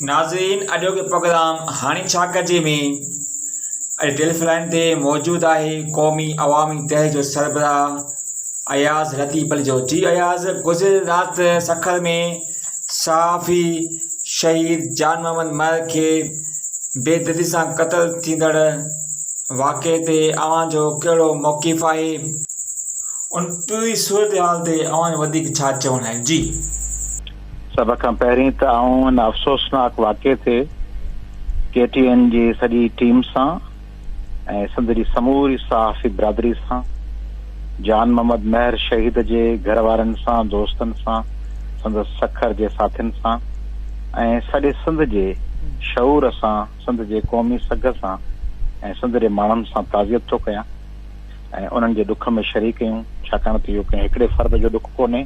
ناظرين اڄوڪي پروگرام هاڻي ڇا ڪجي ۾ اڄ ٽيلف لائن تي موجود آهي قومي عوامي تهه جو سربراهه اياز لطيف پليجو جي اياز گذريل رات سکر ۾ صحافي شهيد جان محمد مهر کي بيدردي سان قتل ٿيندڙ واقعي تي اوهان جو ڪهڙو موقف آهي ان پوري صورتحال تي اوهان جو وڌيڪ ڇا چوڻ آهي جي سڀ کان پهرين ته آئون ان افسوسناڪ واقعي تي ڪي ٽي اين جي سڄي ٽيم سان ۽ سنڌ جي سموري صحافي برادري سان جان محمد مهر شهيد جي گهر وارن سان دوستن سان سندس سکر جي ساٿين سان ۽ سڄي سنڌ جي شعور سان سنڌ جي قومي سگهه سان ۽ سنڌ جي ماڻهن سان تعزيت ٿو ڪيان. ۽ انهن جي ڏک ۾ شريڪ ڪيون، ڇاڪاڻ ته اهو ڪنهن هڪڙي فرد جو ڏک ڪونهي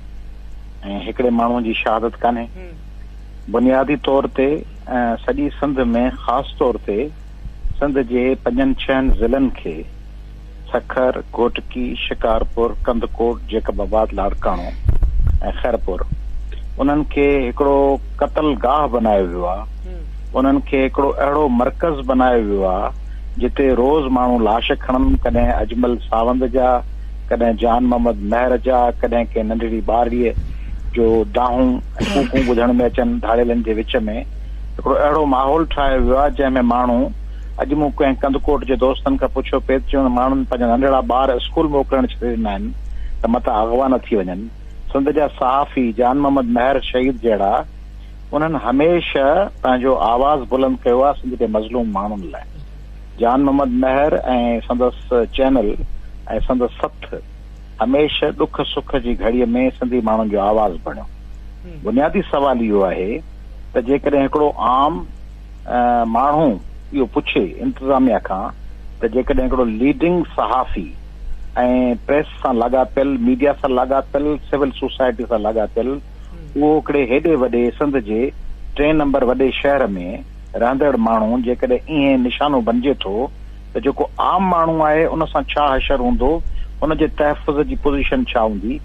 ۽ هڪڙي ماڻهو جي شهادت ڪانهي. بنيادي طور تي سڄي سنڌ ۾ خاص طور تي سنڌ جي پنجن ڇهن ضلعن کي سکر، گهوٽڪي، شڪارپور، ڪنڌڪوٽ، جيڪب آباد، لاڙڪاڻو ۽ خيرپور انهن کي هڪڙو قتل گاهه بنايو ويو آهي، انهن کي هڪڙو اهڙو مرڪز بنايو ويو آهي، جتي روز ماڻهو لاش کڻن، ڪڏهن اجمل ساوند جا، ڪڏهن جان محمد مهر جا، ڪڏهن ڪنهن ننڍڙي ٻارڙيء جو دانهون ۽ ڪوڪون ٻڌڻ ۾ اچن، ڌاڙيلن جي وچ ۾ هڪڙو اهڙو ماحول ٺاهيو ويو آهي جنهن ۾ ماڻهو اڄ مون ڪنهن ڪنڌڪوٽ جي دوستن کان پڇيو پيت جو انهن ماڻهن پنهنجا ننڍڙا ٻار اسڪول موڪلڻ ڇڏي ڏنا آهن ته متان اغوا نه ٿي وڃن. سنڌ جا صحافي جان محمد مهر شهيد جهڙا. انهن هميشه پنهنجو آواز بلند ڪيو آهي سنڌ جي مظلوم ماڻهن لاء. جان محمد مهر ۽ سندس چينل ۽ سندس سٿ هميشه ڏک سک جي گهڙي ۾ سنڌي ماڻهن جو آواز بڻيو. بنيادي سوال اهو آهي ته جيڪڏهن هڪڙو عام ماڻهو اهو پڇي انتظاميا کان ته جيڪڏهن هڪڙو ليڊنگ صحافي ۽ پريس سان لاڳاپيل، ميڊيا سان لاڳاپيل، سول سوسائٽي سان لاڳاپيل، اهو هڪڙي هيڏي وڏي سنڌ جي ٽئين نمبر وڏي شهر ۾ رهندڙ ماڻهو جيڪڏهن ائين نشانو بنجي ٿو ته جيڪو عام ماڻهو آهي ان سان ڇا حشر هوندو ان جي تحفظ جي پوزيشن ڇا هوندي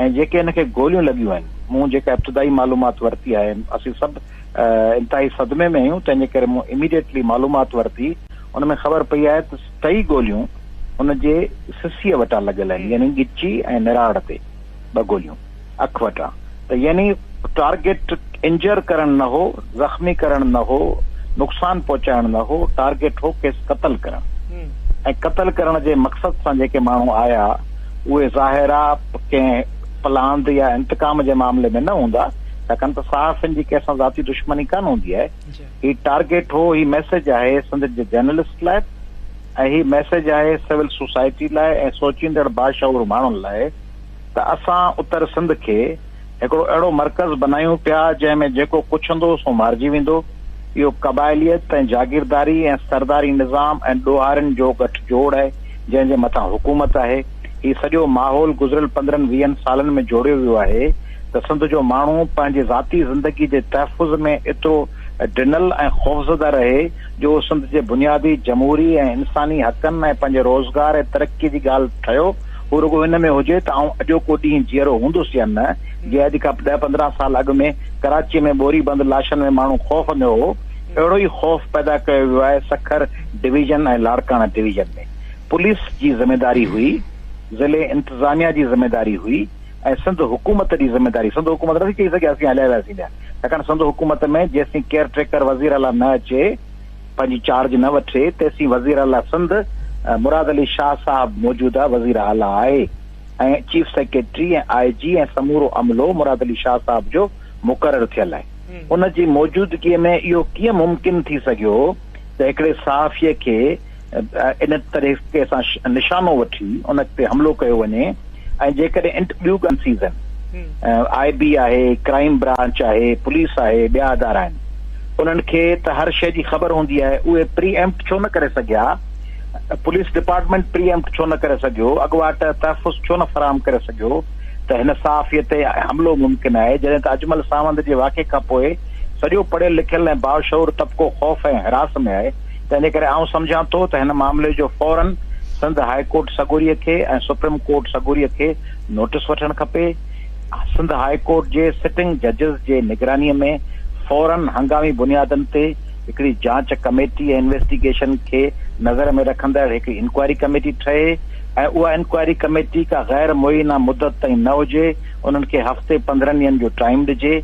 ۽ جيڪي هن کي گوليون لڳيون آهن مون جيڪا ابتدائي معلومات ورتي آهي اسين سڀ انتهائي صدمي ۾ آهيون تنهنجي ڪري مون اميڊيٽلي معلومات ورتي ان ۾ خبر پئي آهي ته ٽئي گوليون ان جي سسيء وٽان لڳل آهن يعني ڳچي ۽ نراڙ تي ٻه گوليون اک وٽان ته يعني ٽارگيٽ انجر ڪرڻ نه هو، زخمي ڪرڻ نه هو، نقصان پهچائڻ نه هو، ٽارگيٽ هو کيس قتل ڪرڻ ۽ قتل ڪرڻ جي مقصد سان جيڪي ماڻهو آيا اهي ظاهرا ڪنهن پلاند يا انتقام جي معاملي ۾ نه هوندا ڇاڪاڻ ته صحافين جي ڪنهن سان ذاتي دشمني ڪانه هوندي آهي هي ٽارگيٽ هو هي ميسيج آهي سنڌ جي جرنلسٽ لاء ۽ هي ميسيج آهي سول سوسائٽي لاء ۽ سوچيندڙ باشعور ماڻهن لاء ته اسان اتر سنڌ کي هڪڙو اهڙو مرڪز بنايون پيا جنهن ۾ جيڪو ڪڇ هوندو سو مارجي ويندو. اهو قبائليت ۽ جاگيرداري ۽ سرداري نظام ۽ ڏوهارين جو ڳٺ جوڙ آهي جنهن جي مٿان حڪومت آهي. هي سڄو ماحول گذريل پندرهن ويهن سالن ۾ جوڙيو ويو آهي ته سنڌ جو ماڻهو پنهنجي ذاتي زندگي جي تحفظ ۾ ايترو ڊنل ۽ خوفزده رهي جو اهو سنڌ جي بنيادي جمهوري ۽ انساني حقن ۽ پنهنجي روزگار ۽ ترقي جي ڳالهه ٺهيو هو رڳو ان ۾ هجي ته آئون اڄوڪو ڏينهن جيئرو هوندس يا نه، جي اڄ کان ڏهه پندرهن سال اڳ ۾ ڪراچيء ۾ ٻوري بند لاشن ۾ ماڻهو خوف ۾ هو، اهڙو ئي خوف پيدا ڪيو ويو آهي Sukkur division ۽ Larkana division ۾. Police جي ذميداري هئي، ضلعي انتظاميا جي ذميداري هئي ۽ سنڌ حڪومت جي ذميداري، سنڌ حڪومت نٿي چئي سگهي اسين هلائي وياسين ڇاڪاڻ سنڌ حڪومت ۾ جيستائين ڪيئر ٽيڪر وزيراعليٰ نه اچي، پنهنجي چارج نه وٺي تيسين وزير اعليٰ سنڌ مراد علي شاهه صاحب موجوده وزير اعليٰ آهي ۽ چيف سيڪريٽري ۽ آء جي ۽ سمورو عملو مراد علي شاهه صاحب جو مقرر ٿيل آهي ان جي موجودگي ۾ اهو ڪيئن ممڪن ٿي سگهيو ته هڪڙي صحافي کي ان طريقي سان نشانو وٺي ان تي حملو ڪيو وڃي ۽ جيڪڏهن ٻيون ڳالهيون سيزن آء بي آهي، ڪرائيم برانچ آهي، پوليس آهي، ٻيا ادارا آهن انهن کي ته هر شيء جي خبر هوندي آهي اهي پري ايمپٽ ڇو نه ڪري سگهيا؟ پوليس ڊپارٽمينٽ پري ايمپٽ ڇو نه ڪري سگهيو؟ اڳواٽ تحفظ ڇو نه فراهم ڪري سگهيو ته هن صحافي تي حملو ممڪن آهي؟ جڏهن ته اجمل ساوند جي واقعي کانپوء سڄو پڙهيل لکيل ۽ باشعور طبقو خوف ۽ هراس ۾ آهي. تنهنجي ڪري آئون سمجهان ٿو ته هن معاملي جو فوراً سنڌ هاء ڪورٽ سڳوريء کي ۽ سپريم ڪورٽ سڳوريء کي نوٽيس وٺڻ کپي. سنڌ هاء ڪورٽ جي سٽنگ ججز جي نگرانيء ۾ فوراً هنگامي بنيادن تي هڪڙي جاچ ڪميٽي ۽ انويسٽيگيشن کي نظر ۾ رکندڙ هڪڙي انڪوائري ڪميٽي ٺهي ۽ اها انڪوائري ڪميٽي ڪا غير معينه مدت تائين نه هجي انهن کي هفتي پندرهن ڏينهن جو ٽائيم ڏجي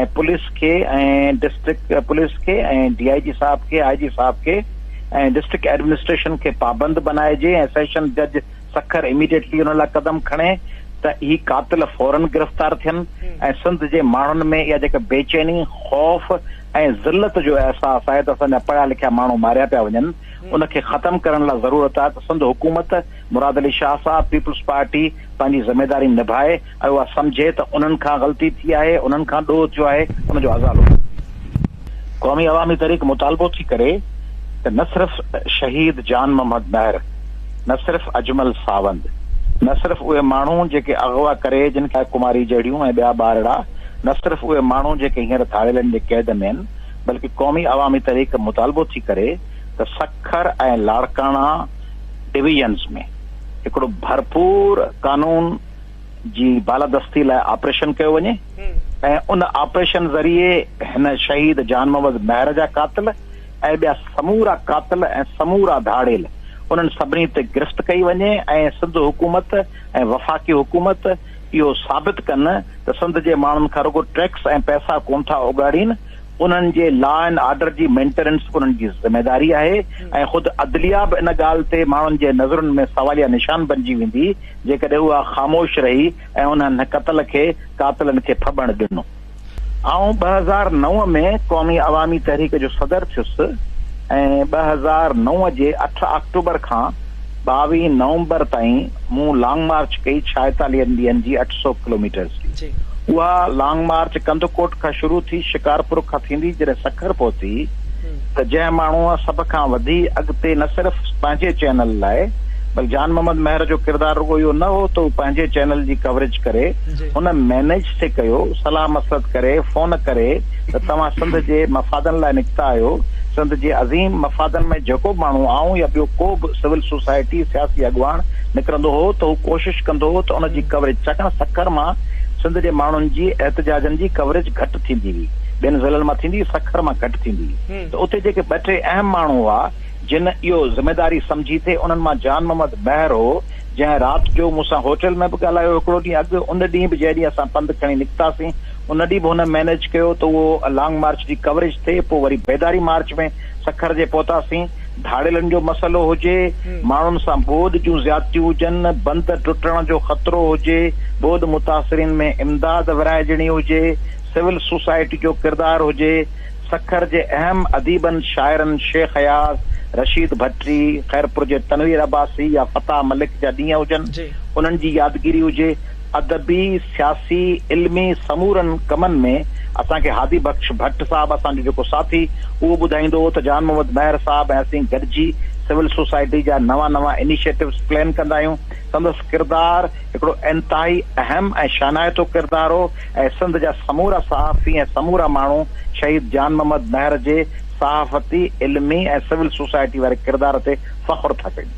۽ پوليس کي ۽ ڊسٽرڪٽ پوليس کي ۽ ڊي آء جي صاحب کي آء جي صاحب کي ۽ ڊسٽرڪٽ ايڊمنسٽريشن کي پابند بنائجي ۽ سيشن جج سکر اميڊيٽلي انهن لاء قدم کڻي ته هي قاتل فورن گرفتار ٿين ۽ سنڌ جي ماڻهن ۾ اها جيڪا بيچيني خوف ۽ ذلت جو احساس آهي ته اسان جا پڙهيا لکيا ماڻهو ماريا پيا وڃن ان کي ختم ڪرڻ لاء ضرورت آهي ته سنڌ حڪومت مراد علي شاهه صاحب پيپلز پارٽي پنهنجي ذميداري نڀائي ۽ اها سمجهي ته انهن کان غلطي ٿي آهي، انهن کان ڏوهه ٿيو آهي، ان جو ازالو ڪري. قومي عوامي تحريڪ مطالبو ٿي ڪري ته نه صرف شهيد جان محمد مهر، نه صرف اجمل ساوند، نه صرف اهي ماڻهو جيڪي اغوا ڪري جن کي ڪماري جهڙيون ۽ ٻيا ٻارڙا، نه صرف اهي ماڻهو جيڪي هينئر ڌاڙيلن جي قيد ۾ آهن، بلڪه قومي عوامي تحريڪ مطالبو ٿي ڪري ته سکر ۽ لاڙڪاڻا، ڊويزنز ۾ هڪڙو ڀرپور قانون جي بالادستي لاء آپريشن ڪيو وڃي ۽ ان آپريشن ذريعي هن شهيد جان محمد مهر جا قاتل ۽ ٻيا سمورا قاتل ۽ سمورا ڌاڙيل انهن سڀني تي گرفت ڪئي وڃي ۽ سنڌ حڪومت ۽ وفاقي حڪومت اهو ثابت ڪن ته سنڌ جي ماڻهن کان رڳو ٽيڪس ۽ پئسا ڪونه ٿا اوڳاڙين، انهن جي لا اينڊ آرڊر جي مينٽيننس انهن جي ذميواري آهي ۽ خود عدليا به ان ڳالهه تي ماڻهن جي نظرن ۾ سواليه نشان بنجي ويندي جيڪڏهن اها خاموش رهي ۽ انهن قتل کي قاتلن کي ڦٻڻ ڏنو. آئون ٻه هزار نو ۾ قومي عوامي تحريڪ جو صدر ٿيس ۽ ٻه هزار نو جي اٺ آڪٽوبر کان ٻاويهه نومبر تائين مون لانگ مارچ ڪئي ڇائيتاليهن ڏينهن جي اٺ سؤ ڪلوميٽرز جي. اها لانگ مارچ ڪنڌڪوٽ کان شروع ٿي شڪارپور کان ٿيندي جڏهن سکر پهتي، ته جنهن ماڻهوء سڀ کان وڌي اڳتي نه صرف پنهنجي چينل لاء بلڪ جان محمد مهر جو ڪردار رڳو اهو نه هو ته هو پنهنجي چينل جي ڪوريج ڪري هن مينيج سي ڪيو صلاح مصلحت ڪري فون ڪري ته توهان سنڌ جي مفادن لاء نڪتا آهيو سنڌ جي عظيم مفادن ۾ جيڪو به ماڻهو آئون يا ٻيو ڪو به سول سوسائٽي سياسي اڳواڻ نڪرندو هو ته هو ڪوشش ڪندو هو ته ان جي ڪوريج ڇاڪاڻ سکر مان سنڌ جي ماڻهن جي احتجاجن جي ڪوريج گهٽ ٿيندي هئي ٻين ضلعن مان ٿيندي سکر مان گهٽ ٿيندي ته اتي جيڪي ٻه ٽي اهم ماڻهو هئا جن اهو ذميداري سمجهي ٿي انهن مان جان محمد مهر هو جنهن رات جو مون سان هوٽل ۾ به ڳالهايو هڪڙو ڏينهن اڳ ان ڏينهن به جنهن ڏينهن اسان پنڌ کڻي نڪتاسين ان ڏينهن به هن مينيج ڪيو ته اهو لانگ مارچ جي ڪوريج ٿئي پوء وري بيداري مارچ ۾ سکر جي پهتاسين ڌاڙيلن جو مسئلو هجي ماڻهن سان ٻوڏ جون زيادتيون هجن بند ٽٽڻ جو خطرو هجي ٻوڏ متاثرين ۾ امداد ورهائجڻي هجي سول سوسائٽي جو ڪردار هجي، سکر جي اهم اديبن شاعرن شيخ اياز، رشيد ڀٽي، خيرپور جي تنوير عباسي يا فتاح ملڪ جا ڏينهن هجن انهن جي يادگيري هجي، ادبي، سياسي، علمي سمورن ڪمن ۾ اسان کي هادي بخش ڀٽ صاحب اسان جو جيڪو ساٿي اهو ٻڌائيندو هو ته جان محمد مهر صاحب ۽ اسين گڏجي سول سوسائٽي جا نوان نوان انيشيٽوز پلين ڪندا آهيون سندس ڪردار هڪڙو انتهائي اهم ۽ شانائتو ڪردار هو. ۽ سنڌ جا سمورا صحافي ۽ سمورا ماڻهو شهيد جان محمد مهر جي صحافتي، علمي ۽ سول سوسائٽي واري ڪردار تي فخر ٿا ڪيون.